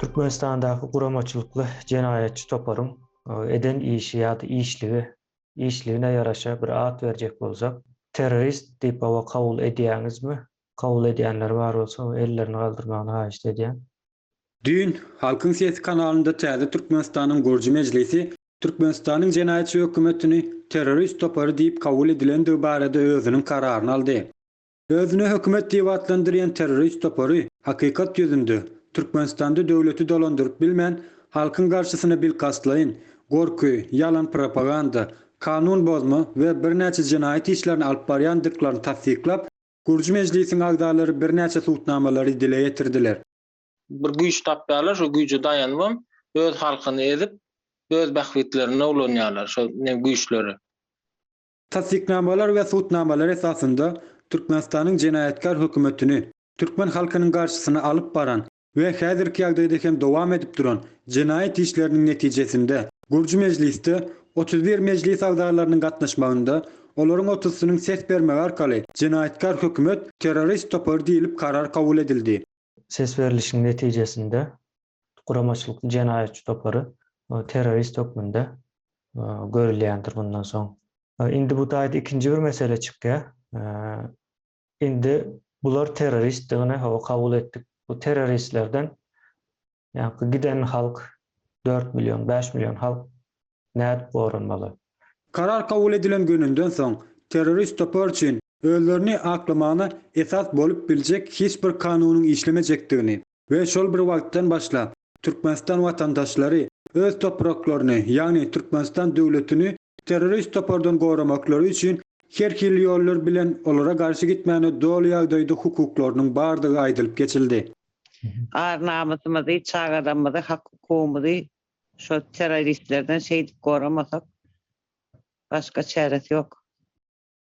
Türkmenistandaky guramaçylykly jenaýatçy toparyň e, eden işi ýa-da işligi, işligine ýaraşa bir at berjek bolsak, terrorist diýip hawa kabul edýäňizmi? Kabul edýänler bar bolsa ellerini galdyrmagyny haýyşt edýän. Düýn Halkyň sesi kanalynda Täze Türkmenistanyň gurujy mejlisi Türkmenistanyň jenaýatçy hökümetini terrorist topary diýip kabul edilendigi barada özüniň kararyny aldy. Özüni hökümet diýip atlandyrýan terrorist topary, hakykat ýüzünde, Türkmenistanda döwleti dolandyryp bilmän, halkyň garşysyna bilkastlaýyn gorky, ýalan propaganda, kanun bozma we birnäçe jenaýat işlerini alyp barýandyklaryny tassyklap, Gurji mejlisiň agzalary birnäçe subutnamalary dile getirdiler. Bir güýç tapýarlar, şo güýje daýanybam, öz halkyny ezip, öz bähbitlerine ulanýarlar şo ne güýçleri. Tassyknamalar we subutnamalar esasynda Türkmenistanyň jenaýatkar hökümetini, türkmen halkynyň garşysyna alyp baran we häzirki ýagdaýda hem dowam edip duran jenaýat işleriniň netijesinde, Gurji mejlisde otuz bir mejlis agzalarynyň gatnaşmagynda, olaryň otuzysynyň ses bermegi arkaly jenaýatkar hökümet terrorist topary diýlip karar kabul edildi. Ses berlişiň netijesinde, guramaçylykly jenaýatçy topary terrorist hökmünde görülýändir bundan soň. Indi bu taýda ikinji bir mesele çykýar. Indi bular terroristdigini hawa kabul etdik. Bu terroristlerden ýaňky giden halk dört million, bäş million halk nädip goranmaly? Karar kabul edilen gününden soň terrorist topar üçin özlerini aklamagyna esas bolup biljek hiç bir kanunyň işlemejekdigini we şol bir wagtdan başlap Türkmenistan watandaşlary öz topraklaryny, ýagny Türkmenistan döwletini terrorist topardan goramaklary üçin her hili ýollar bilen olara garşy gitmäne doly ýagdaýda hukuklarynyň bardygy aýdylyp geçildi. Ar-namysymyzy, çagalarymyzy, hak-hukugymyzy şo terroristlerden şeýdip goramasak, başga çäresi ýok.